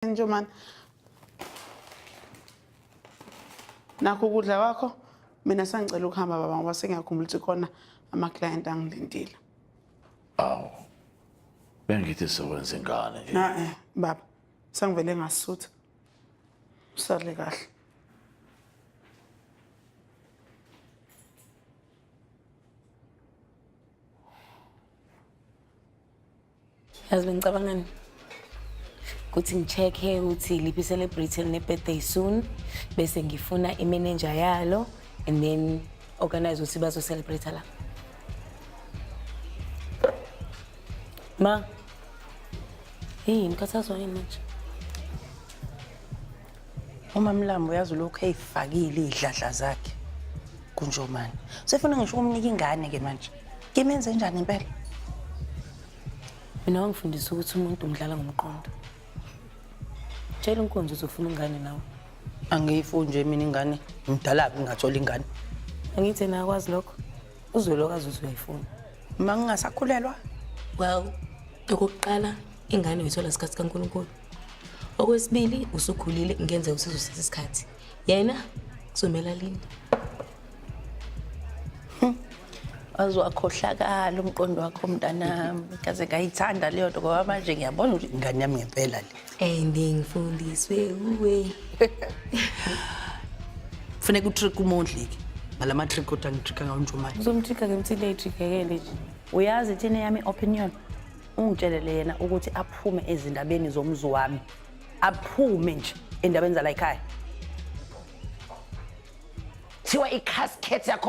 Njoman. Nakho ukudla kwakho mina sangicela ukuhamba baba ngoba sengiyakhumbula ukuthi khona ama-client angilindile. Awu. Bengithi sewenza ingane nje. Na eh baba sangivele ngasutha. Usale kahle. yazi bengicabangani ukuthi ngi-check-e ukuthi liphi i-celebrity eline-birthday soon bese ngifuna i-manager yalo and then organize ukuthi bazo-celebrate la ma yini khathazwa yini manje umamlambo uyazi ulokhu eyifakile iy'dladla zakhe kunjomane sefuna ngisho ukumnika ingane-ke manje kimenze njani impela mina wangifundisa ukuthi umuntu umdlala ngomqondo tshela unkonzo uzofuna ingane nawe angiyifuni nje mina ingane ngidalaphi ngingathola ingane angithi yena akwazi lokho uzwe lokho azuze uyayifuna uma ngingasakhulelwa well okokuqala ingane uyithola sikhathi kankulunkulu okwesibili usukhulile ngenzeka usizosithatha isikhathi yena kuzomela lini hmm. waze wakhohlakala umqondo wakho mntanami kaze ngayithanda leyo nto ngoba manje ngiyabona ukuthi ingane yami ngempela le and ngifundiswe uwe funeka utrick umondlike ngala matrick kodwa ngitricka ngawo nje umanje uzomtricka ke mthile itrikekele nje uyazi thina yami opinion ungitshelele yena ukuthi aphume ezindabeni zomzi wami aphume nje endabeni zala ekhaya thiwa i-casket yakhona